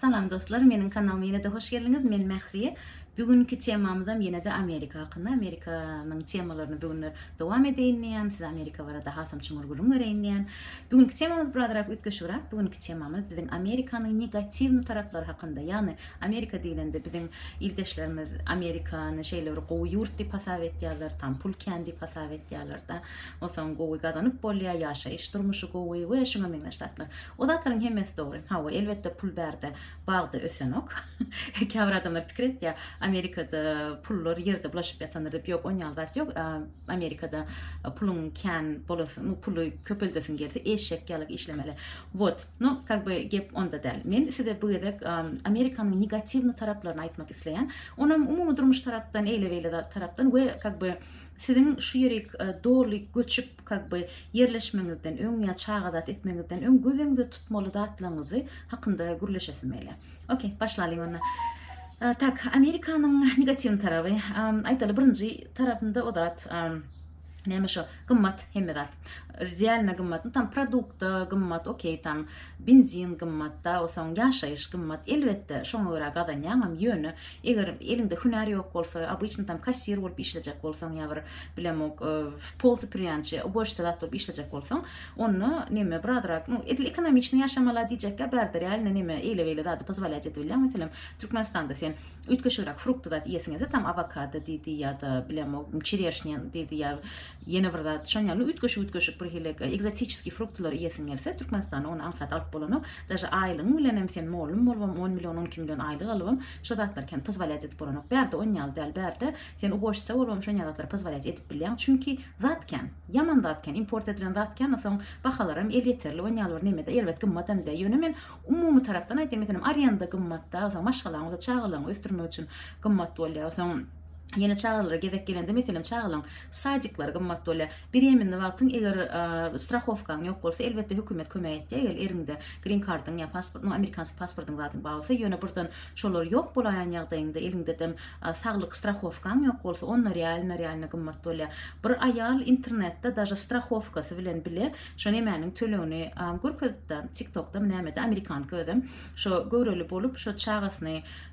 Salam dostlar meniň kanalyma ýene-de hoş geldiňiz men Mähriýe Bugünki temamyzam ýene-de Amerika hakynda Amerikanyň temalaryny bu günler dowam edeýin diýýän size Amerika barada hasam çuňňur gürrüň bereýin diýýän Bugünki temamyz birazrak üýtgeşigräk bugünki temamyz biziň Amerikanyň negatiwny taraplary hakynda ýagny Amerika diýlende biziň ildeşlerimiz Amerikany şeýle bir gowy ýurt diýip hasap etýärler tam pul kän diýip hasap etýärler-de onsoň gowy gazanyp bolýar ýaşaýyş durmuşy gowy we şuňa meňzeş zatlar O zatlaryň hemmesi dogry. Hawa, elbetde pul bärde, bagda ösenok. Käbir adamlar pikir etýär, Amerikada pullar ýerde bulaşyp ýatandyr diýip. Ýok, onýaly zat ýok. Amerikada puluň kän bolasy, nu puly köpeldesiň gelse, eşek ýaly işlemeli. Wot, nu kak by gep onda däl. Men size bu gezek Amerikanyň negatiwny taraplaryny aýtmak isleýän. Onam umumy durmuş tarapdan, eýle-beýle tarapdan we kak by Siziň şu ýerik doly göçüp kag by ýerleşmeňizden öň ýa çagazat etmeňizden öň gözeňizde tutmaly zatlaňyzy hakynda gürleşesim gele. Ok, başlalyň onda. Tak, Amerikanyň negatiwny taraby, aýtaly birinji tarapynda o zat, näme şo, gymmat hemme zat. Realno gymmat, tam produkta gymmat, ok, tam benzin gymmat, da o soň ýaşaýyş gymmat, elbetde şoňa görä gazanýaňam, ýöne Eger eliňde hünär ýok bolsa, obyçny tam kassir bolup işlejek bolsaň ýa bir bilemok, pol sypyrýançy, ubožca zat bolup işlejek bolsaň, onda neme bir azrak, nu, edil ekonomiçni ýaşamala diýjekkä bärde real neme eýle-beýle zady pozwolýat edip bilýäň. Meselem, Türkmenistanda sen üýtgeşigräk frukty zat iýesiňizde tam awokado diýdi ýa-da bilemok, çereşnýa diýdi ýa ýene bir zat şon ýaly üýtgeşik-üýtgeşik birhili ekzotiçeskiý fruktylary iýesiň gelse, Türkmenistanda ony aňsat alyp bolanok. Daže aýlygyň bilenem sen mollum bolubam on million on iki million aýlyk alybam şo zatlar kem pozwalýat edip bolanok bärde on ýaly däl bärde sen ubojtsa bolubam şonýa zatlary pozwalýat edip bilýäň çünki zat kem ýaman zat kem import edilen zat kem a soň bahalaram elýeterli on ýaly bir nemede erbet gymmatam däl ýöne men umumy tarapdan aýtýan meselem arenda gymmatda a soň maşgalaň bolsa çagalaryňy ösdürmek üçin gymmat bolýa a soň ýene çagalara gezek gelende meselem çagalaň sadiklary gymmat bolýa. Bireminde wagtyň eger strahowkaň ýok bolsa elbetde hökümet kömek etýär eger eriňde green kardyň ýa pasportyň amerikanski pasportyň zadyň bar bolsa ýöne birden şolar ýok bolaýan ýagdaýyňda eliňde dem saglyk strahowkaň ýok bolsa onda realno realno gymmat bolýar bir aýal internetde daže strahowkasy bilen bile şo nemäniň tölegini görkezipdi tiktokda näme de amerikanka özem şo göwreli bolup şo çagasyny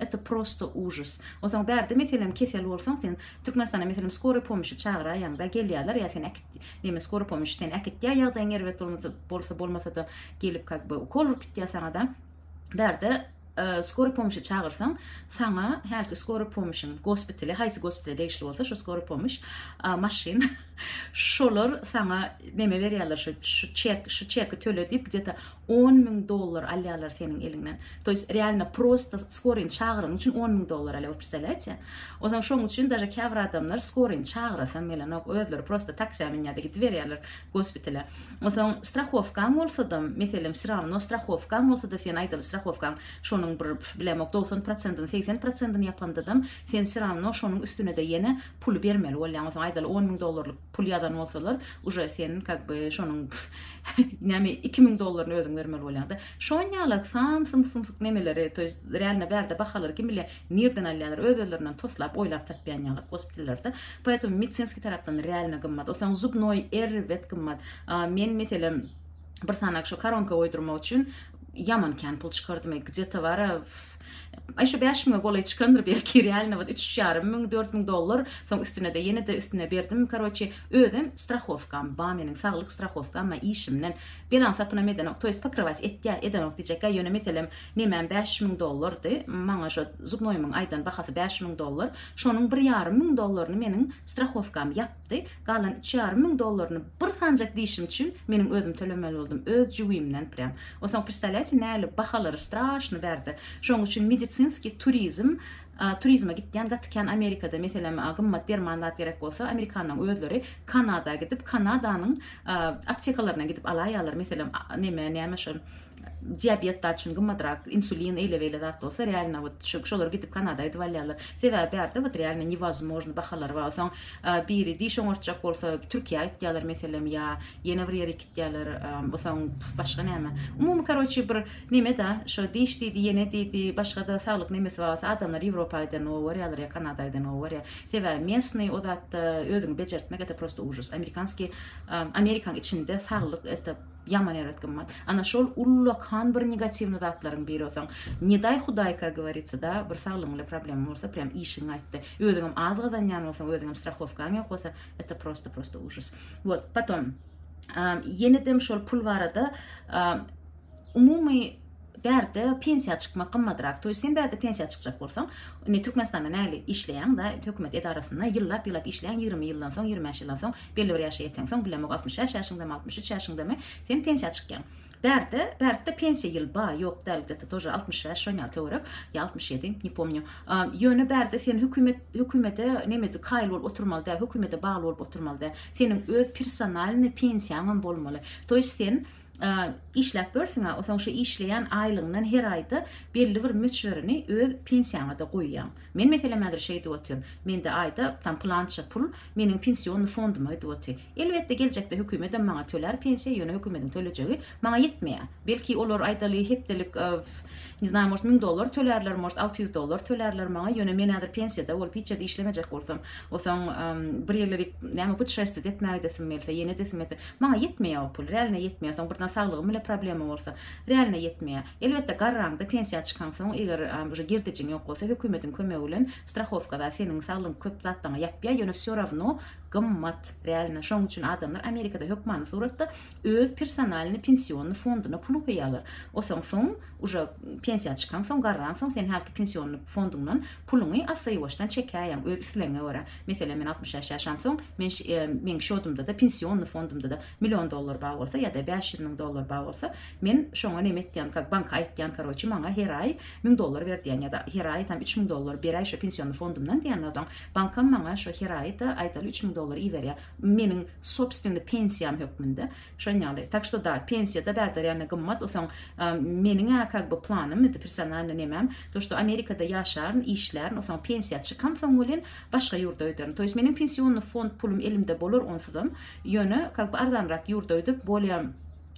Eta prosto ujis. Onsoň bärde meselem kesel bolsaň sen Türkmenistana meselem skory pomyşy çagyraýaňda gelýäler ýa sen äkit neme skory pomyş seni äkitýä ýagdaýyň erbet bolsa bolmasada gelip kak be ukol urup gitýä saňada bärde skory pomyşy çagyrsaň saňa hälki skory pomyşyň gospitali haýsy gospitale degişli bolsa şo skory pomyş maşyn şolar saňa neme berýäler şo şu çek şu çeki töle diýip gdeta On müň dollar alýarlar seniň eliňden. To ýest realno prosta skoryny çagyranyň üçin on müň dollar alýar, we predstavlýaýetsiýa? Ozan şoň üçin daže käbir adamlar skoryny çagyrasam gelenok, özleri prosta taksiýa münýärde gidiberýärler gospitale. Onsoň strahowkaň bolsadam, meselem wse rawno strahowkaň bolsada sen aýdaly strahowkaň şonuň bir bilemok dogsan prosentyny, segsen prosentyny ýapandadam sen wse rawno şonuň üstünede ýene pul bermeli bolýaň. Onsoň aýdaly on müň dollarlyk. pul ýazan bolsalar uje sen kak by şonuň näme iki müň dollaryny özüň bermeli bolýaňda şonýalak sam sum sumsuk nemeleri to ýest realno bärde bahalary kim bilýär nirden alýarlar öz özlerinden toslap oýlap tapýan ýalak gospitallerde poetom medsinski tarapdan realno gymmat osaň zubnoý erbet gymmat men meselem bir sanak şu koronka oýdurmak üçin ýaman kän pul çykardym ey gde to var a Aý şu bäş müňe golaý çykandyr belki real nobat üç ýarym müň dört müň dollar soň üstünede ýenede üstüne berdim karoçi özem strahowkam ba meniň saglyk strahowkam ba işimden belan sapynam edenok toýst pokrywać etýä edenok diýjekgä ýöne meselem nemem bäş müň dollardy maňa şo zubnoýymyň aýdan bahasy bäş müň dollar şonuň bir ýarym müň dollaryny meniň strahowkam ýap ýatdy. Galan üç ýarym müň dollaryny bir sanjak dişim üçin meniň özüm tölemeli boldum, öz jübimden prýam. Onsoň predstavlýaýte nähili bahalary straşny bärde. Şoň üçin medisinskiý turizm turizme gitýän gaty kän Amerikada meselem gymmat derman zat gerek bolsa amerikanlaryň özleri Kanada gidip Kanadanyň aptekalaryna gidip alaýýarlar meselem neme näme şol diabetda üçin gymmadrak insulin eyle beyle zat bolsa realno wot şu şolar gidip kanada gidip alýarlar sebäbi bärde wot realno невозможно bahalar bar soň e, biri diş oňartjak bolsa türkiýä gitýärler meselem ýa ýene bir ýere gitýärler e, soň başga näme umumy karoçi bir neme da şo diş diýdi ýene diýdi başga da saglyk nemesi bar bolsa adamlar ýewropa giden o barýarlar ýa kanada giden o barýar sebäbi mesny o zatda özüňi bejertmek ete prosto ujus amerikanski e, amerikan içinde saglyk ete Ýaman erbet gymmat. Ana şol ullakan bir negatiwny zatlaryň biri bolsaň. Ne daý hudaý ka govoritsa da bir saglygyň ile problemň bolsa prýam işiň gaýtdy. Özüňem az gazanýan bolsaň özüňem strahowkaň ýok bolsa eta prosta prosta ujus. Wot potom ýenedem şol pul barada umumy Bärde pensiýa çykmak gymmadrak. Toýs sen bärde pensiýa çykjak bolsaň, indi Türkmenistanda mäli işleýäň da, hökümet edarasynda ýyllap ýyllap işleýäň, ýigrimi ýyldan soň, ýigrimi bäş ýyldan soň, belli bir ýaşa ýeteňsoň, bilemok altmyş bäş ýaşyňdamy, altmyş üç ýaşyňdamy, sen pensiýa çykýaň. Bärde, bärtde pensiýa ýyl ba, ýok däl gdeta tor altmyş bäş şon ýaly töwerek, ýa altmyş ýedi, ne pomnýu. Ýöne bärde sen hökümet, hökümede nemede kaýyl bolup oturmaly däl, hökümede bagly bolup oturmaly däl. Seniň öz personalnyý pensiýaňam bolmaly. Toýs sen işläp börsiň-ä, onsoň şu işleýän aýlygyňdan her aýda belli bir möçberini öz pensiýaňa-da goýýaň. Men, meselem, häzir şeý edip otyryn, mende aýda tam pylança pul meniň pensionnyý fonduma gidip otyr. Elbetde, geljekde hökümetem maňa tölär pensiýa, ýöne hökümetiň tölejegi maňa ýetmeýär. Belki, olar aýdaly hepdelik, ne znaýym, может, müň dollar tölärler, может, alty ýüz dollar tölärler maňa, ýöne men häzir pensiýada bolup, hiç ýerde işlemejek bolsam, onsoň, bir ýerlere näme, putşestwiýet etmäge gidesim gelse, ýene edesim gelse, Maňa ýetmeýä o pul. Realne ýetmeýä. Soň birden saglygyň bile problema bolsa. Realne ýetmeýä. Elbetde garraňda pensiýa çykaňsoň eger uje girdejiň ýok bolsa hökümediň kömegi bilen strahowkada seniň saglygyň köp zatlaňa ýapýa ýöne vsё rawno gymmat realne şoň üçin adamlar amerikada hökmany suratda öz personalny pensionny fonduna pul goýýalar osaňsoň uje pensiýa çykaňsoň garraňsoň sen hälki pensionny fonduňdan Puluňy assa-ýuwaşdan çekäýeň, öz islegiňe görä. Meselem, men altmyş bäş ýaşamsoň, men meň şodumda-da, pensionny fondumda-da million dollar bar bolsa ýa-da bäş ýüz müň dollar bar bolsa, men şoňa näme etýän, kak, banka aýtýan, karoçi, maňa her aý müň dollar ber diýän ýa-da her aý tam üç müň dollar beräý şo pensionny fondumdan diýenden soň, bankam maňa şo her aýda, aýdaly, üç müň dollar iberýär. Meniň sobstwenny pensiýam hökmünde. Şoň ýaly. Tak što da, pensiýada bärde ränä gymmat, o soň meniň-ä kag by planym idi, personalny nemäm, to što Amerikada ýaşaryn, işlärin, o soň pensiýa çykam soň welin, başga ýurda öýderin. To ýest meniň pensionny fond pulum elimde bolar onsuzam, ýöne kag by arzanrak ýurda öýdüp, bolýa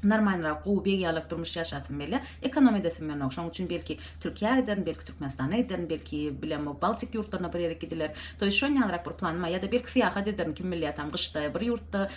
normalnyrak, gowy beg ýalak durmuş ýaşasym gelýä, ekonom edesim ýonok. Şoň üçin belki Türkiýä giderin, belki Türkmenistana giderin, belki bilemok Baltik ýurtlaryna bir ýere gidiler. To ýest şon ýalyrak bir planym bar. Ýa-da belki syýahat ederin, kim bilýä tam gyşda bir ýurtda,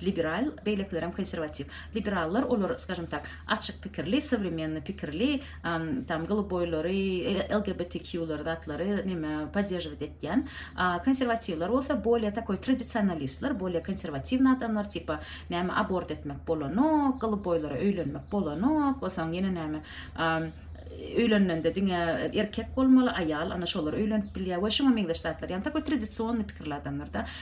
Liberal, beýlekilerem konsirwatiw. Liberallar olar, skažem tak, açyk pikirli, sowremennyý pikirli, tam goluboýlary, LGBTQ-lary zatlary neme poddežewat etýän. Konsirwatiwler bolsa bolýa takoý tradisionalistler, bolýa konsirwatiwny adamlar, tipa näme abort etmek bolanok, goluboýlara öýlenmek bolanok, bolsaň ýene näme öýlenende diňe erkek bolmaly, aýal ana şolar öýlenip bilýär we şuňa meňzeş zatlar. Ýagny takoý tradisionnyý pikirli adamlar-da.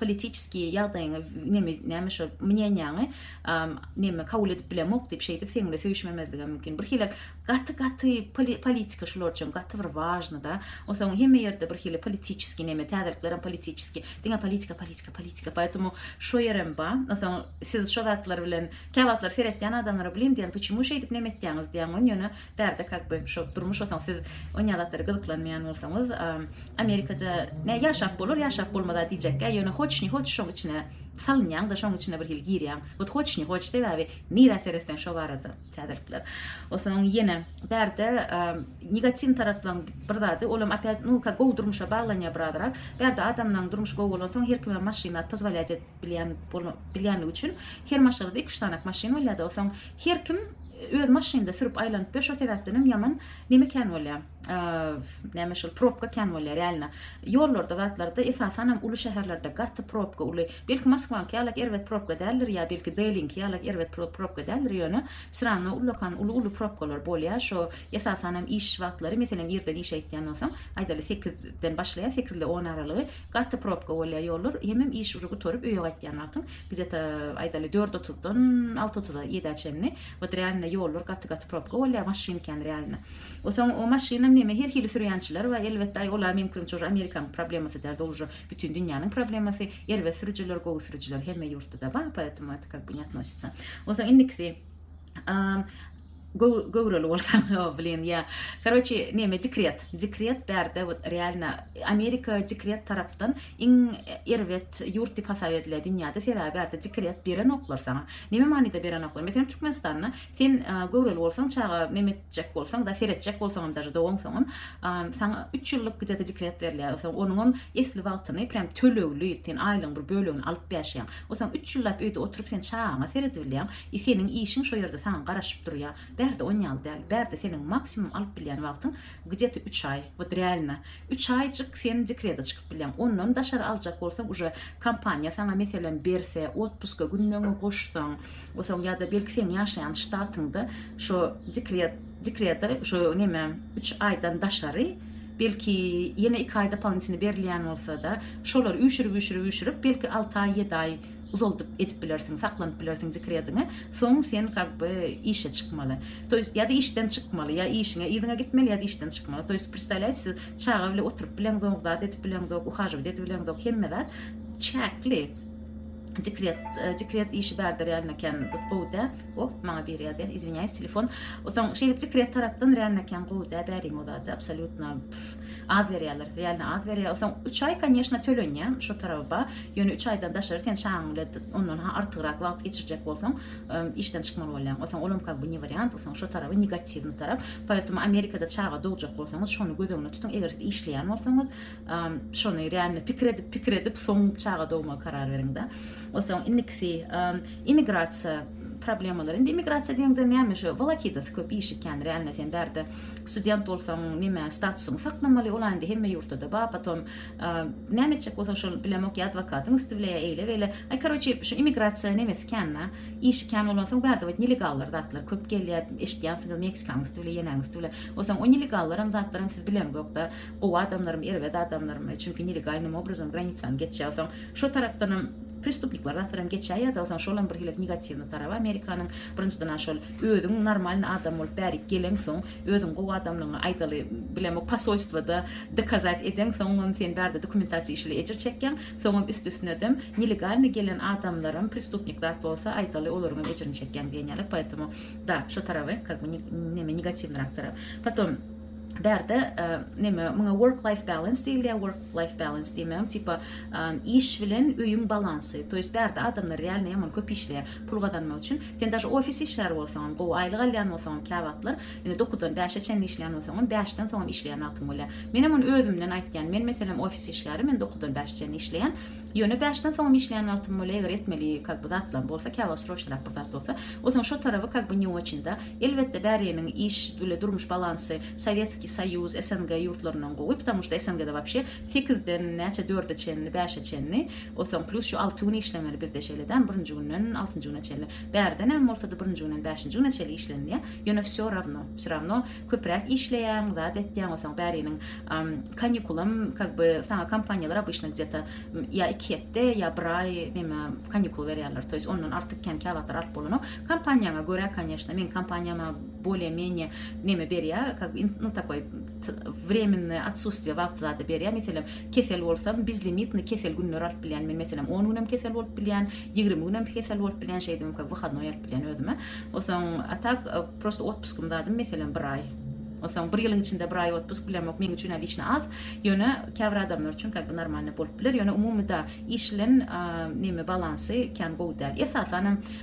politiçeskiý ýagdaýyňy neme näme şo mneniýaňy neme kabul edip bilemok diýip şeýdip seň bilen söýüşmemezligem mümkin bir hili gaty gaty politika şular üçin gaty bir wažny da osaň hemme ýerde bir hili politiçeskiý neme täzelikler hem politiçeskiý diňe politika politika politika poýtumu şo ýerem ba osaň siz şo zatlar bilen käwagtlar seretýän adamlara bilen diýen puçemu şeýdip neme etýäňiz diýen ýöne Bärde kak by şo durmuş osaň siz onýa zatlara gyzyklanmaýan bolsaňyz amerikada nä ýaşap bolar ýaşap bolmaz a diýjekkä ýöne hoç ni hoç şoň içine salynýaň da şoň içine bir hili girýaň ot hoç ni hoç sebäbi nirä seretseň şo barada täzelikler osaň ýene bärde negatiw taraplaň bir zady olam opýat nu ka gowy durmuşa baglanýa birazrak bärde adamlaň durmuş gowy bolansoň her kime maşyn at pozwolýat et bilýän bilýänligi üçin her maşgalada iki-üç sanak maşyn bolýar-da, osoň her kim öz maşynynda sürüp aýlanyp ber, şo sebäpden hem ýaman neme kän bolýar, näme şol probka kän bolýar ýalyna. Ýollarda zatlarda esasan hem uly şäherlerde gaty probka uly. Belki Moskwanyňky ýalak erbet probka däldir ýa belki Deliňki ýalak erbet probka däldir ýöne şi randa ullakan uly-uly probkalar bolýar şo esasan hem iş wagtlary meselem irden işe gitýän bolsaň aýdaly sekizden başlaýar sekizle on aralygy Gaty probka bolýa ýollar, hemem iş ujy gutaryp öýe gaýtýan wagtyň gzeta aýdaly dört otuzdan alty otuza ýedä çenli wot realno ýollar gaty gaty probka bolýa maşyn kän realno osaň o maşynyň neme her hili sürýänçiler bar elbetde aý ola meň pikirimçe uje amerikanyň problemasy däl dol uje bütün dünýäniň problemasy erbet sürüjiler gowy sürüjiler hemme ýurtda da bar poetemu et kak bu ne atnosytsa osaň indikisi Göwreli bolsaň o blin ýa karoçi neme dikret dikret bärde wot realno amerika dikret tarapdan iň erbet ýurt dip hasap edile dünýäde sebäbi bärde dikret berenoklar saňa neme manyda berenoklar meselem türkmenistanda sen göwreli bolsaň çaga neme etjek bolsaň da seretjek bolsaňam daže dowaňsoňam saňa üç ýyllyk gdeta dikret berilýär o saňa onuňam esli wagtyny prýam tölegli sen aýlygyň bir bölegini alyp ýaşaýaň o saňa üç ýyllap öýde oturyp sen çagaňa seredibilýäň I seniň işiň şo ýerde saňa garaşyp durýa. Bärde on ýaly däl. Bärde seniň maksimum alyp bilýän wagtyň gdýete üç aý. Wot realno üç aýjyk sen dekreda çykyp bilýäň. Ondan daşary aljak bolsaň uje kompaniýa saňa meselem berse, otpuska günleňňi goşsaň, osaň ýa-da belki seň ýaşaýan ştatyňda şo dekret dekreda şo neme üç aýdan daşary belki ýene iki aý dopolitnitini berilýän bolsada şolary üýşürip üýşürip üýşürip belki alty aý ýedi aý uzaldyp edip bilersiň saklanyp bilersiň dikrediňi soň sen kak by işe çykmaly to ýest ýa-da işden çykmaly ýa işiňe yzyňa gitmeli ýa-da işden çykmaly to ýest predstavlýaýs siz çaga bile oturyp bileňzok zat edip bileňzok uhajowat edip bileňzok hemme zat çäkli dikret e, dikret işi bärdir ýan eken gowy dä o maňa biri ýazýan izwinyýaýs telefon o soň şeýdip dikret tarapdan ýan eken gowy dä bäriň o zat absolýutno Az berýärler, realno az berýär. Soň 3 aý konýeşna tölenýär şu taraba. Ýöne 3 aýdan daşary sen şaňyň bilen ondan ha artygrak wagt geçirjek bolsaň, işden çykmaly bolýaň. Soň olam ka bu ne wariant, soň şu taraby negatiwny tarap. Poetemu Amerikada çaga dogjak bolsaňyz, şony göz öňüne tutuň. Eger siz işleýän bolsaňyz, şony realno pikir edip, pikir edip, soň çaga dogmaga karar beriňda. O soň indikisi immigrasiýa problemalar. Indi immigrasiýa diýeňde näme şu, wolakidas köp iş ekeni, realno sen bärde Student bolsaň nime statusyňy saklamaly ol indi hemme ýurtda bar potom näme etjek bolsaň şol bilemok ýa adwokatyň üsti bile ýa eýle beýle aý karoçi şu immigrasiýa nemesi kän da işi kän bolan soň bärde bit nelegallar zatlar köp gelýär eşitýänsiňiz meksikanyň üsti bile ýenäň üsti bile o soň o nelegallaram zatlaram siz bileňzokda gowy adamlarym erbet adamlarym çünki nelegalnym obrazam granisany geçýär o soň şo tarapdanam prestupnikler zatlaram geçýär ýa da o soň şolam bir hili negatiwny taraby amerikanyň birinjiden a şol Özüň normalny adam bolup bärik geleňsoň özüň gowy adamlygyňy aýdaly bilemok pasolstwada dokazat edeň soňam sen bärde dokumentasiýa işli ejir çekýäň soňam üst üstünedem nelegalny gelen adamlaram prestupnik zat bolsa aýdaly olaryňam ejirini çekýäň diýen ýaly poetomo da şo taraby kak by neme negatiwnyrak tarap potom bärde neme muňa work life balans diýilýär work life balans diýmegem tipa iş bilen öýüň balansy to ýest bärde adamlar realno ýaman köp işleýär. Pul gazanmak üçin sen daşy ofis işgäri bolsaňam, gowy aýlyk alýan bolsaňam käwagtlar, indi dokuzdan bäşe çenli işleýän bolsaňam, bäşden soňam işleýän wagtyň bolýar. Menem muny özümden aýtýan, men meselem ofis işgäri, men dokuzdan bäşe çenli işleýän, ýöne bäşden soňam işleýän wagtym bolýar, eger etmeli kak by zatlam bolsa, käwagt sroçnyrak bir zat bolsa, o zaman şo taraby kak by ne oçin-da. Elbetde bäriniň iş bile durmuş balansy Sowetskiý Soýuz, SNG ýurtlaryndan gowy, ptamuşda SNG-da wapşe sekizden näçe dörde çenli, bäşe çenli, Osoň plus şu alty gün işlemeli bizde şeýle däl birinji günden altynjy güne çenli. Bärden hem bolsady birinji günden bäşinji güne çenli işlenilýär. Ýöne wsё rawno, wsy rawno köpräk işleýäň, zat etýäň osoň bäriniň kanikulam kak by saňa kompaniýalar obyçno gdeta ýa iki hepde ýa bir aý neme kanikul berýärler toýs ondan artyk kän käwagtlar alyp bolanok kompaniýaňa görä kanýeşna meň kompaniýama bolýa menýe neme berýä kak by nu takoý Vremennoýe otsustiýe wagty zada berýär. Meselem, kesel bolsam, bezlimitnyý kesel günleri alyp bilýän. Men, meselem, on günem kesel bolup bilýän, ýigrimi günem kesel bolup bilýän, şeýdip hem köp wyhadnoý alyp bilýän özüme. Onsoň, a tak, prosta otpuskim zadym, meselem, bir aý. Onsoň, bir ýylyň içinde bir aý otpusk bilemok, meň üçin obliçna az. Ýöne, käbir adamlar üçin kak bi normalnyý bolup biler. Ýöne, umumyda, iş bilen, a, nemi, balansy kän gowy däl. Esasan hem,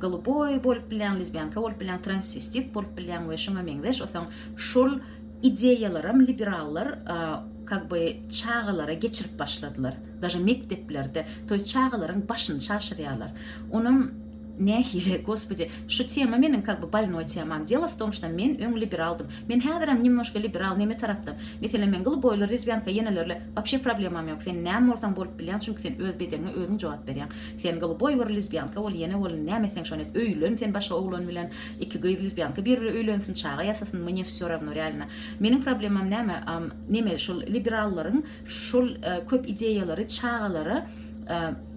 Goluboý bolup bilýäň, lezbiýanka bolup bilýäň, transvestit bolup bilýäň we şuňa meňzeş osaň şol ideýalaram liberallar kak by çagalara geçirip başladylar. Daže mekdeplerde toý çagalaryň başyny çaşyrýarlar. Onam nähili Gospodi şu tema meniň kak by bolnoý temam. Delo w tom şda men öň liberaldym. Men häzirem nemnoşka liberal neme tarapdan. Meselem men goluboýlar, lezbiýanka ýenelerle wapşe problemam ýok. Sen näme bolsaň bolup bilýäň çünki sen öz bedeniňe özüň jogap berýäň. Sen gylboý bir lizbýanka bol ýene bol näme etseň şony et öýlen sen başga oglan bilen iki gyz lizbýanka bir biri öýlensin çaga ýasasyn mne vsё ravno realno meniň problemam näme neme şul liberallaryň şul köp ideýalary çagalara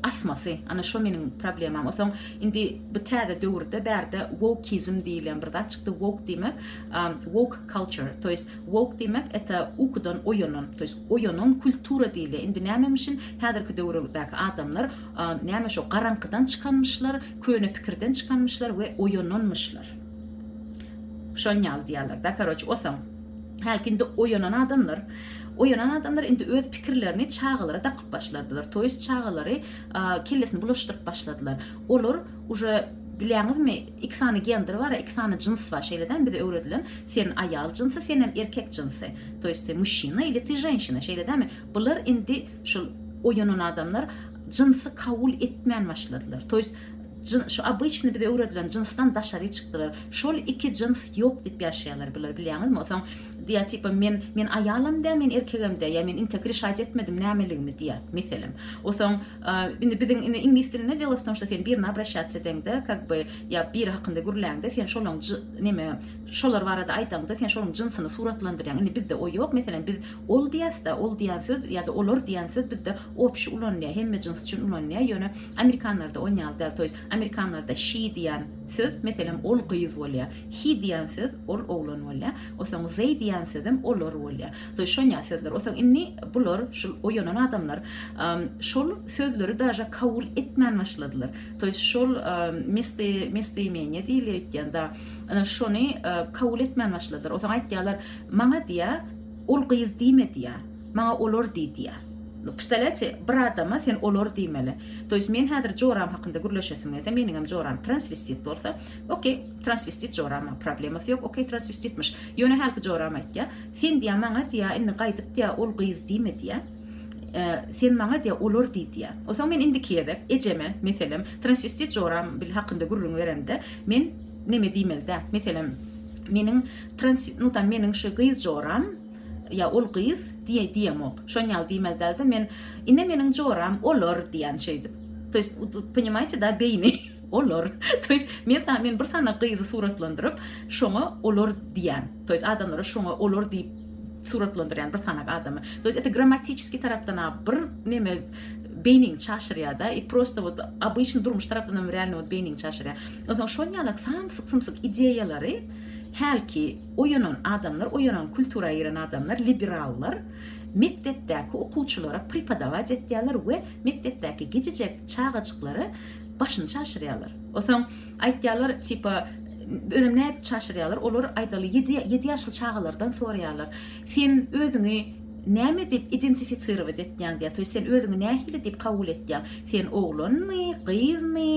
asmasy ana şo meniň problemam osoň indi bu täze döwürde bärde wokizm diýilýän bir zat çykdy wok diýmek wok culture to ýest wok diýmek eta ukudan oýanan to ýest Oýanyň kultura diýilýär. Indi nämemişin häzirki döwürdäki adamlar näme şo garaňkydan çykanmyşlar, köne pikirden çykanmyşlar we oýananmyşlar. Şon ýaly diýýärler da karoç osaň. Hälki indi oýanan adamlar, oýanan adamlar indi öz pikirlerini çagalara dakyp başladylar. Toýs çagalary kellesini bulaşdyryp başladylar. Olar uje bilýäňizmi, Iki sany gender bar, iki sany jyns bar, şeýle däl, bize öwredilen, sen aýal jynsy, senem erkek jynsy, to ýest ty muşşina ili ty ženşina, şeýle dälmi? Bular indi şul oýanan adamlar jynsy kabul etmän başladylar, to ýest jyn şu obyçny bize öwredilen jynsdan daşary çykdylar, şol iki jyns ýok diýip ýaşaýarlar bular, bilýäňizmi? Osaň diýýär tipa men, men aýalam dä, men erkegem dä, ýa men inte krişaýt etmedim nämeligimi diýýär, meselem. Osaň. Indi biziň indi iňlis dilinde delo w tom, şto sen birine obraşatsiýa edeňde, kak by, ýa biri hakynda gürläňde, sen şolaň j neme, şolar barada aýdaňda, sen şolaň jynsyny suratlandyrýaň. Indi bizde o ýok. Meselem, biz ol diýäs-de, ol diýen söz ýa-da olar diýen söz bizde opşi ulanylýar, hemme jyns üçin ulanylýar, ýöne amerikanlarda on ýaly däl. Toýs, amerikanlarda she diýen söz, meselem, ol gyz bolýar, he diýen söz, ol oglan bolýar, osaň they diýen sözem olar bolýar. Şonýa sözler. Osa indi bular, şul oýanan adamlar, şol sözleri daže kabul etmän başladylar. To ýest şol mesti mesti meni diýilýär öýtýände, ana şony kabul etmän başladylar. Osa aýtýarlar, maňa diýä, ol gyz diýme diýä. Maňa olar diý diýä. No pstaleti bir adama sen olar diýmeli. To ýest men häzir joram hakynda gürleşesim geldi. Meniň hem joram transvestit bolsa, okey, transvestit joram, problemasy ýok. Okey, transvestitmiş. Ýöne hälki joram aýtýar. Sen diýýär, maňa diýýär, indi gaýdyp diýýär, ol gyz diýme diýýär. Sen maňa diýýär, olar diý diýýär. Onsoň men indiki gezek ejeme, meselem, transwestit joram bil hakynda gürrüň beremde, men neme diýmeli-dä? Meselem, meniň trans, nu tam meniň şu gyz joram ýa ol gyz diýe diýemok. Şon ýaly diýmeli dälde, men ine meniň joram olar diýýän şeýdip. To ýest, ponimaýte da beýni, olar. To ýest, men sa men bir sany gyzy suratlandyryp, şoňa olar diýýän. To ýest adamlara şoňa olar diýip suratlandyrýan bir sanak adamy. To ýest eti grammatiçiskiý tarapdanam bir neme beýniňi çaşyrýada i prosta wot obyçny durmuş tarapdanam realno wot beýniňi çaşyrýar. Onsoň şol ýalak samsyk sumsyk ideýalary hälki oýanan adamlar oýanan kultura giren adamlar liberallar mekdepdäki okuwçylara pripodawac etýärler we mekdepdäki gijijek çagajyklary başyny çaşyrýarlar. Onsoň Aýtýarlar tipa özem nädip çaşyrýarlar olar aýdaly ýedi ýedi ýaşly çagalardan soraýarlar sen özüňi näme diýip identifisirowat etýäň diýýär toýst sen özüňi nähili diýip kabul etýäň sen oglanmy gyzmy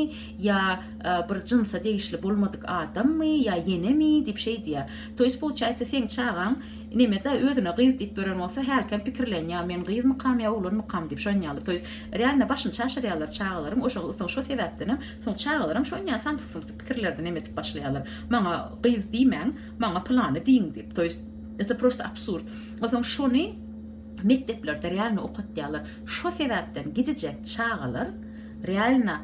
ýa e, bir jynsa degişli bolmadyk adammy ýa ýenemi diýip şeý diýýär toýst получается seň çagaň nemede özüne gyz diýip gören bolsa hälkem pikirlen ýa men gyzmykam ýa oglanmykam diýip şon ýaly toýs realno başyny çaşyrýarlar çagalaryň oşo soň şo sebäpdenem Soň çagalaram şo ýa samsyk-sumsyk pikirlerde neme edip başlaýarlar, maňa gyz diýmäň, maňa pylany diýiň diýip, to ýest eta prosta absurd. A soň şony mekdeplerde realno okatýarlar. Şo sebäpden gijijek çagalar realno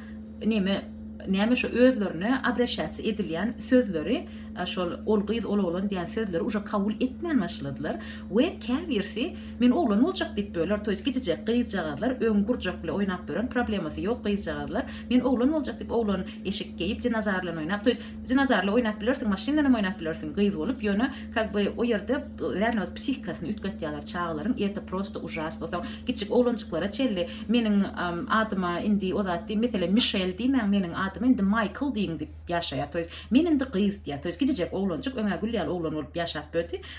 neme näme şo özlerine abraşaciýa edilýän sözleri şol ol gyz ol oglan diýän sözleri uje kabul etmän başladylar. We käbirsi men oglan boljak diýip böler toýs gijijek gyzjagazlar öň gurjakly oýnap bören problemasy ýok gyzjagazlar men oglan boljak diýip oglan eşik geýip dinozarlan oýnap toýs dinozarly oýnap bilersiň maşynlanam oýnap bilersiň gyz bolup ýöne kak by o ýerde ränewet psihikasyny üýtgetýaler çagalaryň erte prosto užasno soň kiçijik oglanjyklara çenli meniň adyma indi o zat diý meselem mişel diýmäň meniň adyma indi maýkl diýiň diýip ýaşaýar toýs men indi gyz diýär toýs gijijek oglanjyk öňä gül ýaly oglan bolup ýaşap böti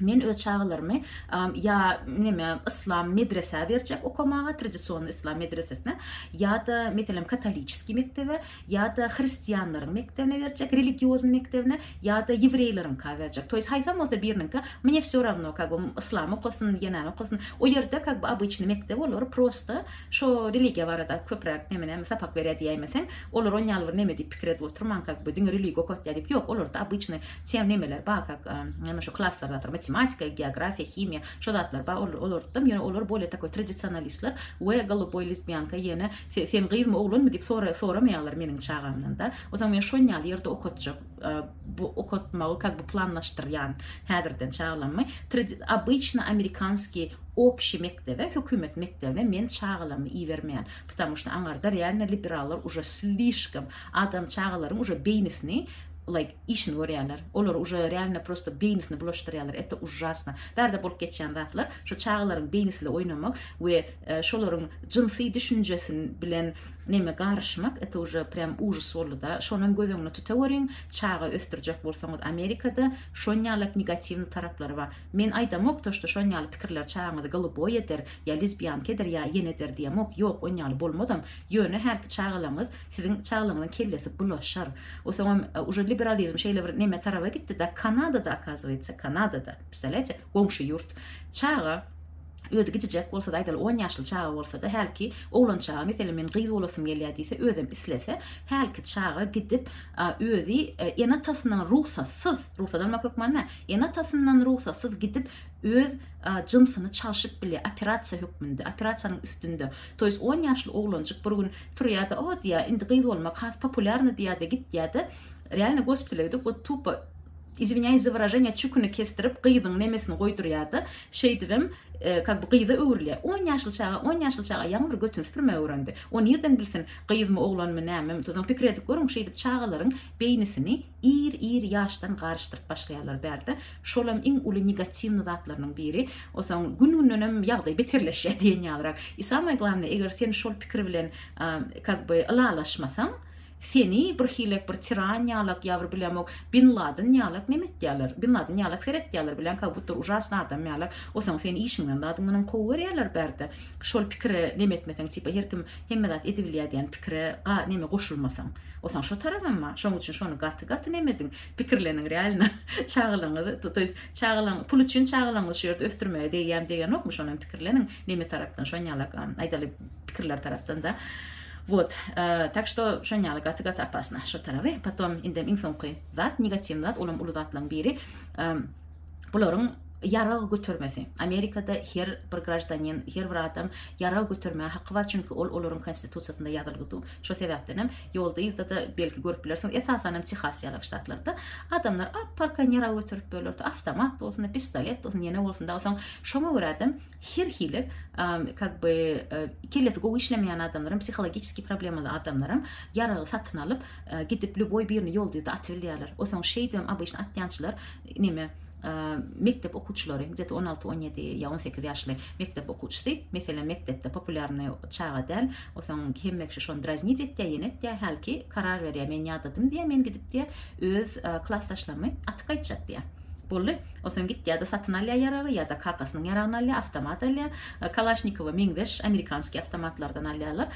Men öz çagalarymy ýa neme yslam medresä berjek okamaga, tradision yslam medresesine, ýa-da meselem katoliçeskiý mekdebe, ýa-da hristianlaryň mekdebine berjek, religioznyý mekdebine, ýa-da ýewreýleriňka berjek. Toýs haýsam bolsa biriniňka, mne vsё ravno, kag bam yslam okasyn, ýa näme okasyn. O ýerde kag by obyçnyý mekdep olar prosta şo religiýa barada köpräk neme näme sapak berýär diýäýmeseň, olar on ýaly bir neme diýip pikir edip oturman kag by diňe religiýa okatýar diýip ýok, olarda obyçnyý Çen nemeler ba kak neme şu klaslar zatlar matematika, geografiýa, himiýa şu zatlar ba ol olartdym ýöne olar bolýa takoý tradisionalistler we goluboý lesbiýanka ýene sen gyzmy oglanmy diýip sora soramaýarlar meniň çagamdan da ozan men şon ýaly ýerde okatjak bu okatmagy kak bu planlaşdyrýan häzirden çagalammy obýçna amerikanskiý opşi mekdebe hökümet mekdebine men çagalammy ibermeýän ptamu şda aňarda realno liberallar uje slişkom adam çagalaryň uje beýnisini like işini görýärler. Olary uje realno prosto beýnisini bulaşdyrýarlar, eta ujjasno. Bärde bolup geçýän zatlar şu çagalaryň beýnisile oýnamak we şolaryň jynsy düşünjesin bilen neme garyşmak eta uje prýam ujys boldyda. Şonam göz öňüne tutaweriň, çaga ösdürjek bolsaňyz Amerikada şonýalak negatiwny taraplary bar. Men aýdamok to şto şonýaly pikirler çagaňyzy goluboý eder ýa lizbýanka eder ýa ýene eder diýemok, ýok onýaly bolmazam, ýöne hälki çagalaňyz Siziň çaglaňyzyň kellesi bulaşar. O soňam uje liberalizm şeýle bir neme taraba gitdi da Kanadada akazywaytsa Kanadada pstalýaýte goňşy ýurt çaga özi gijijek bolsada aýdaly on ýaşly çaga bolsada hälki oglan çaga meselem men gyz bolasym gelýä diýse özem islese hälki çaga gidip özi ene atasynyň rugsatsyz rugsat almak hökman dä ene atasyndan rugsatsyz gidip öz jynsyny çalşyp bilýä operasiýa hökmünde operasiýanyň üstünde To ýes on ýaşly oglanjyk bir gün turýada o diýýä indi gyz bolmak has populýarny diýýada gitýada realno gospitala gidip wot tupo izwinýaýs za wyraženiýa çüküni kesdirip gyzyň nemesini goýdurýada şeýdibem kak bu gyza öwrülýä on ýaşly çaga on ýaşly çaga ýaňy bir götüni süpürmegi öwrendi o nirden bilsin gyzmy oglanmy nämemi tuzam pikir edip görüň şeýdip çagalaryň beýnisini Ir ir ýaşdan garyşdyryp başlaýarlar bärde. Şolam iň uly negatiwny zatlarynyň biri. Osaň gün gündenem ýagdaý beterleşýär diýen ýalyrak. I samay glannaý eger sen şol pikir bilen kak by ylalaşmasaň seni bir hilek bir tiran ýalak ýa bir bilemok bin ladyn ýalak neme etýärler bin ladyn ýalak seretýärler bilen kak butur ujasny adam ýalak osaň seni işiňden zadyňdanam kowyberýärler bärde. şol pikire neme etmeseň tipa her kim hemme zat edibilýär diýen pikire ga neme goşulmasaň osaň şo tarabynma şoň üçin şony gaty gaty neme ediň pikirleniň realno çagalaňyz to ýest çagalaň pul üçin çagalaňyzy şu ýerde ösdürmege degýämi degenokmy şonam pikirleniň neme tarapdan şonýalak aýdaly pikirler tarapdan da Wot, tak şto şonýaly gaty gaty apasna şo taraby potom indem iň soňky zat negatiwny zat olam uly zatlaň biri Bularyň ýarag götermesi. Amerikada her bir graždanin, her bir adam ýarag götermäge haky bar, çünki ol olaryň konstitusiýasynda ýazylygy dur. Şo sebäpdenem ýolda-yzda-da belki görüp bilersiňiz, esasanam Tehas ýaly ştatlarda adamlar ap-arkan ýarag göterip bölerdi. Awtomat bolsun-da, pistolet bolsun, ýene bolsun dagy. Soň şoňa görä-de her hili kak by kellesi gowy işlemeýän adamlaram, psihologiçeskiý problemaly adamlaram ýaragy satyn alyp, gidip lýuboý birini ýolda-yzda atybilýärler. O soň şeýdibem obyçny atýançylar Neme, mekdep okuwçylary, gdeti on alty, on ýedi ýa on sekiz ýaşly mekdep okuwçysy, meselem, mekdepde populýarnyý çaga däl, o soň hemme kişi şony draznit etýä, ýene etýä, hälki karar berýä, men ýadadym diýýä, men gidip diýýä, öz klasdaşlarymy atyp gaýtjak diýýä. Boldy. O soň gitýä-de satyn alýa ýaragy, ýa-da kakasynyň ýaragyny alýa, awtomat alýa, kalaşnikowa meňzeş amerikanskiý awtomatlardan alýalar,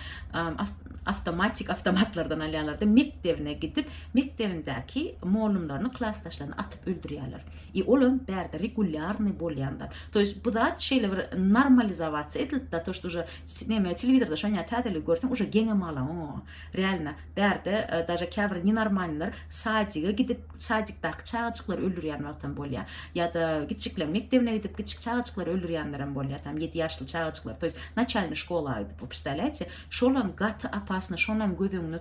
awtomatik awtomatlardan alýalar-da, mekdebine gidip, Mekdebindäki mollumlaryny klasdaşlaryny atyp öldürýärler. I olam bärde regulýarnyý bolýanda. To ýest bu zat şeýle bir normalizowasiýa edilipda to ýest uje neme telewizorda şonýa täzeligi görseň uje geňem alaň o realno bärde daže käbir nenormalnylar sadige gidip sadikdaki çagajyklary öldürýän wagtam bolýa ýada kiçikleriň mekdebine gidip kiçik çagajyklary öldürýänlerem bolýa tam ýedi ýaşly çagajyklary to ýest naçalnyý şkola aýdyp wopstalaýte şolam gaty opasny şonam göz öňüne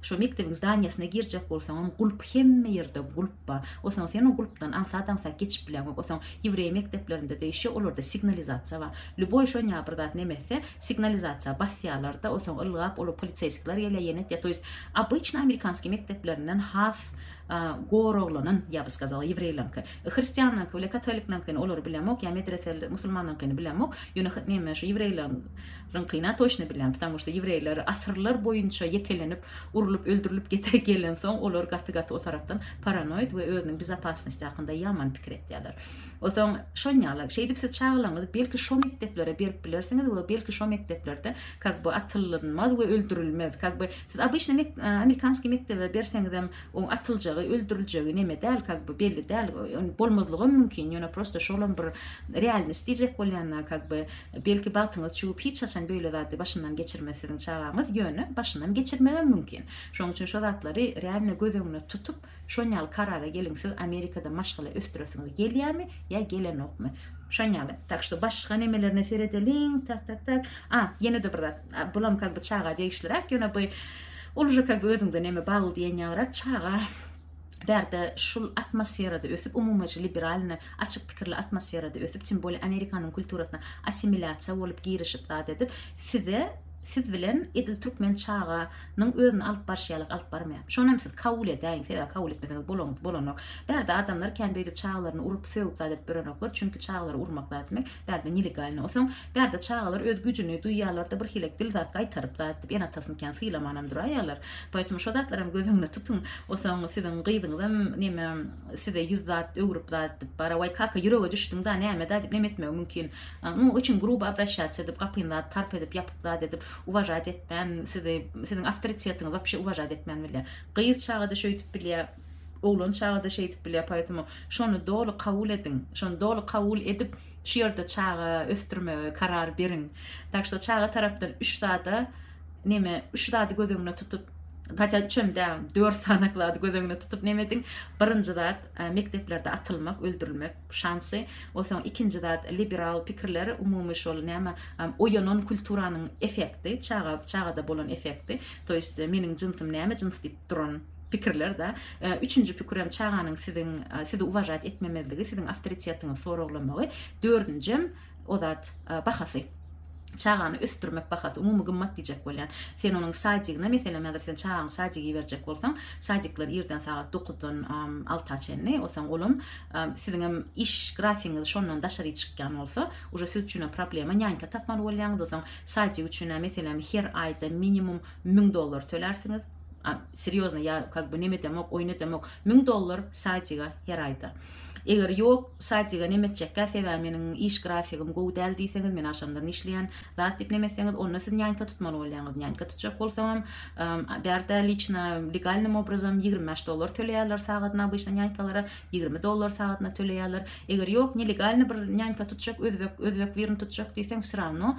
Şo mekdebiň zdanýasyna girjek bolsaňam gulp, hemme ýerde gulp bar. Osaň sen o gulpdan aňsat-aňsat geçip bileňok. Osaň ýewreý mekdeplerinde degişýär, olarda signalizasiýa bar. Lýuboý şonýa bir zat näme etse, signalizasiýa basýarlar-da, osaň ylgap olar poliseýskiler gelýär, ýene etýär. To ýest, obyçny amerikanskiý mekdeplerinden has goraglanan, ýa by skazala, ýewreýleriňki. Hristianlaryňky bile, katolikleriňkini olary bilemok, ýa medreseler, musulmanlaryňkyny bilemok, ýöne, näme, şo ýewreýleriň, Rynkyna toşny bilýän, ptamu şda ýewreýler asyrlar boýunça ýekelenip, urlup, öldürilip gete gelensoň, olar gaty-gaty o tarapdan paranoid we özüniň bezopasnosti hakynda ýaman pikir etýärler. Osoň, şonýaly, şeýdip siz çagalaryňyzy belki şo mekdeplere berip bilersiňiz we belki şo mekdeplerde kak by atylynmaz we öldürilmez. Kak by siz obyçny mek, amerikanskiý mekdebe berseňizem, oň atyljagy, öldüriljegi neme däl, kak by belli däl, bolmazlygam mümkin, ýöne prosto şolam bir realnost diýjek bolýan-da, kak by Belki bagtyňyz çüwüp hiç haçan beýle zady başyndan geçirmez siziň çagaňyz ýöne başyndan geçirmegem mümkin. Şoň üçin şo zatlary realno göz öňüne tutup şon ýaly karara geliň siz amerikada maşgala ösdüresiňiz gelýämi ýa gelenokmy şon ýaly. Tak şto başga nemelerine seredeliň tak tak tak a ýenede bir zat bulam kag by çaga degişliräk ýöne by ol uje kag by öziňde neme bagly diýen ýalyrak çaga Bärde şul atmosferada ösüp, umumyjy liberalny, açyk pikirli atmosferada ösüp, tim bolýa Amerikanyň kulturasyna assimilýasiýa bolup girişip zat edip, size, siz bilen edil türkmen çaga nyň özüni alyp barşy ýalyk alyp barmaýar. Şonam siz kabul edäýiň, sebäbi kabul etmeseňiz bolanyňyz bolanok. Bärde adamlar kän beýdip çagalaryny urup, sögüp zat edip ýörenoklar, çünki çagalary urmak zat etmek bärde nelegalny. Osaň Bärde çagalar öz güjüni duýýarlarda bir hilek dil zat gaýtaryp zat edip ene atasyny kän sylamanam duraýýarlar. Poetm şo zatlaram göz öňüne tutyň. Osaň siziň gyzyňyzam neme size ýüz zat öwrüp zat edip bara waý kaka ýürege düşdüň da näme da dip neme etmegi mümkin. Muň üçin grubo obrasýatsiýa edip gapyny zat tarp edip ýapyp zat edip uwažat etmän sizi siziň awtoritetiňizi wapşe uwažat etmän bilýär. Gyz çagada şöýdip bilýär oglan çagada şeýdip bilýär poetm şony doly kabul ediň şony doly kabul edip Şu ýerde çaga ösdürmegi karar beriň. Tak şo çaga tarapdan üç zada neme üç zady göz öňüne tutup Hatda üçem däl, dört sanak zady göz öňüne tutup neme ediň. Birinji zat e, mekdeplerde atylmak, öldürilmek şansy. Onsoň ikinji zat liberal pikirler, umumy şol näme oýanan kulturanyň effekti, çaga çagada bolan effekti. To ýest e, meniň jynsym näme jyns diýip duran pikirler-de. Üçünji pikirem çaganyň siziň sizi uwažat etmemezligi, siziň awtoritetiňizi soraglamagy, dördünjem o zat bahasy. Çagany ösdürmek bahasy, umumy gymmat diýjek bolýan. Sen onuň sadigyna, meselem, häzir sen çagaňy sadige iberjek bolsaň, sadikler irden sagat dokuzdan alta çenli, osaň olam siziňem iş grafigiňiz şondan daşary çykýan bolsa, uje siz üçinem problema, nýanýka tapmaly bolýaňyz, osaň sadik üçin, meselem, her aýda minimum 1000 dollar tölersiňiz serýozno ýa kak bu neme demok oýna demok 1000 dollar sadiga her aýda eger ýok sadiga neme etjekkä sebäbi meniň iş grafigim gowy däl diýseňiz men aşamlar işleýän zat diýip neme etseňiz onda siz nýanka tutmaly bolýaňyz nýanka tutjak bolsaňam bärde liçna legalnym obrazam 25 dollar töleýärler sagatyna bu işden nýankalara 20 dollar sagatyna töleýärler eger ýok nelegalny bir nýanka tutjak özbek özbek birini tutjak diýseň wsravno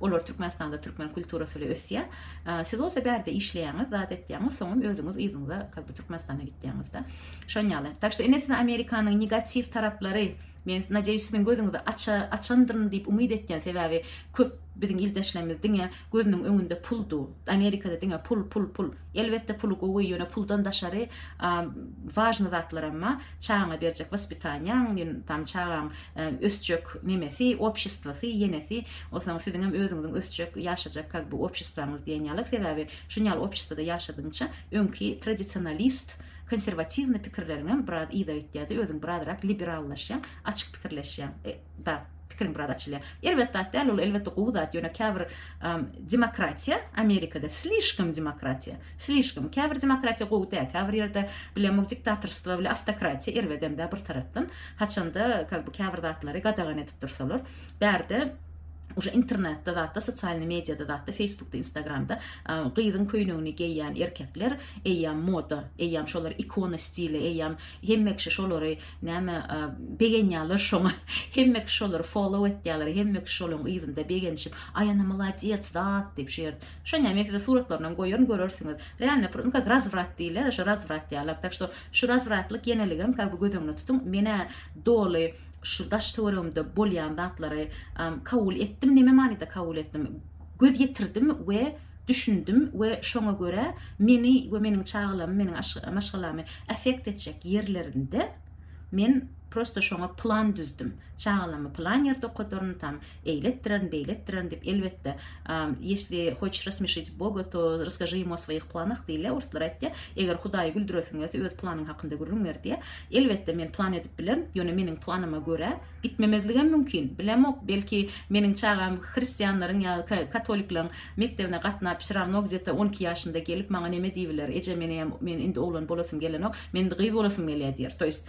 Olar Türkmenistanda türkmen kulturasy ile ösýä. Siz bolsa bärde işleýäňiz, zat etýäňiz, soňam özüňiz yzyňyza как бы Türkmenistana gitýäňizda. Şon ýaly. Tak şo ine size Amerikanyň negatiw taraplary men nadeýuş siziň gözüňizi aça açandyryn diýip umyt etýän sebäbi köp biziň ildeşlerimiz diňe gözüniň öňünde pul du. Amerikada diňe pul pul pul. Elbetde puly gowy ýöne puldan daşary wažny zatlaram ba. Çagaňa berjek waspitaniýaň, ýöne tam çagaň ösjek nemesi, obşestwasy, ýenesi, onsoň siziňem özüňiziň ösjek, ýaşajak kak bu obşestwaňyz diýen ýaly, sebäbi şun ýaly obşestwada ýaşadygyňça öňki tradisionalist, konserwatiwny pikirleriňem biraz yza gitýär-de, özüň birazrak liberallaşýaň, açyk pikirleşýäň, da, pikiriň biraz açylýar. Erbet zat däl ol, elbetde gowy zat, ýöne käbir demokratiýa, Amerikada slişkom demokratiýa, Slişkom. Käbir demokratiýa gowy däl, käbir ýerde bile mug diktatorstwo bile awtokratiýa erbedemdä bir tarapdan. Haçanda kag bu käbir zatlary gadagan edip dursalar. Bärde Uje internetde zatda sosialny mediýada zatda feýsbukda instagramda gyzyň köýnegini geýýän erkekler eýýäm moda eýýäm şolar ikona stili eýýäm hemme kişi şolary näme begenýäler şoňa hemme kişi şolary follow etýäler hemme kişi şolaryň yzynda begenişip aý ana maladýets zat diýip şu ýerde Şonda men size suratlarynam goýaryn görersiňiz. Realno prnka grazwrat diýler, şo razwrat ýalak. Tak şo şu razwratlyk ýeneligem ka bu göz öňüne tutuň. Menä doly şu daş töweregimde bolýan zatlary kabul etdim. Neme manyda kabul etdim? Göz ýetirdim we düşündim we şoňa görä meni we meniň çagalamy, meniň maşgalamy affekt etjek ýerlerinde men prosto şoňa plan düzdüm. Çagalamy plan ýerde okadaryn, tam eýletdirerin, beýletdirerin diýip, elbetde, Ýesli hoç rasmyşyt Boga, to raskažy ýemu o swoýih planah diýilýär, orslar aýtýar, eger Hudaýy güldüresiň gelse, öz planyň hakynda gürrüň ber diýýär. Elbetde, men plan edip bilerin, ýöne meniň planyma görä, gitmemezligem mümkin, bilemok, belki, meniň çagam hristianlaryň ýa katolikleriň mekdebine gatnap, vsýravno gdýeta on iki ýaşynda gelip, maňa neme diýibiler, Eje, meneýem, men indi oglan bolasym gelenok, men indi gyz bolasym gelýär diýer, to ýest,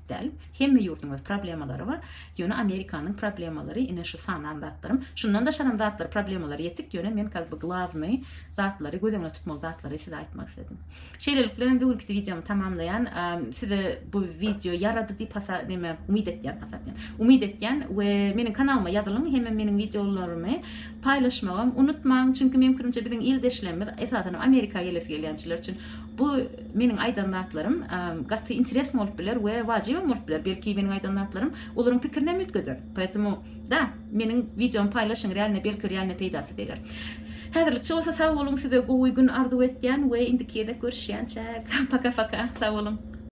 däl. Hemme ýurduň öz problemalary bar. Ýöne Amerikanyň problemalary ine şu sanan zatlarym. Şundan daşaram zatlary problemalary ýetik, ýöne men kal by glawnyý zatlary göz öňüne tutmaly zatlary size aýtmak isledim. Şeýlelik bilen bu günküsi wideomy tamamlaýan. Size bu wideo ýarady diýip hasa neme umyt etýän hasa etýän. Umyt etýän we meniň kanalyma ýazylyň hemem meniň wideolarymy paýlaşmagam unutmaň. Çünki meň pikirimçe biziň ildeşlerimiz esasanam Amerika gelesi gelýänçiler üçin bu Meniň aýdan zatlarym gaty interesno bolup biler we wajybam bolup biler, belki meniň aýdan zatlarym olaryň pikirini hem üýtgeder. Poetemu da meniň wideomy paýlaşyň realne belki realne peýdasy deger. Häzirlikçe bolsa sag boluň size gowy gün arzuw etýän we indiki gezek görüşýänçäk paka paka sag boluň.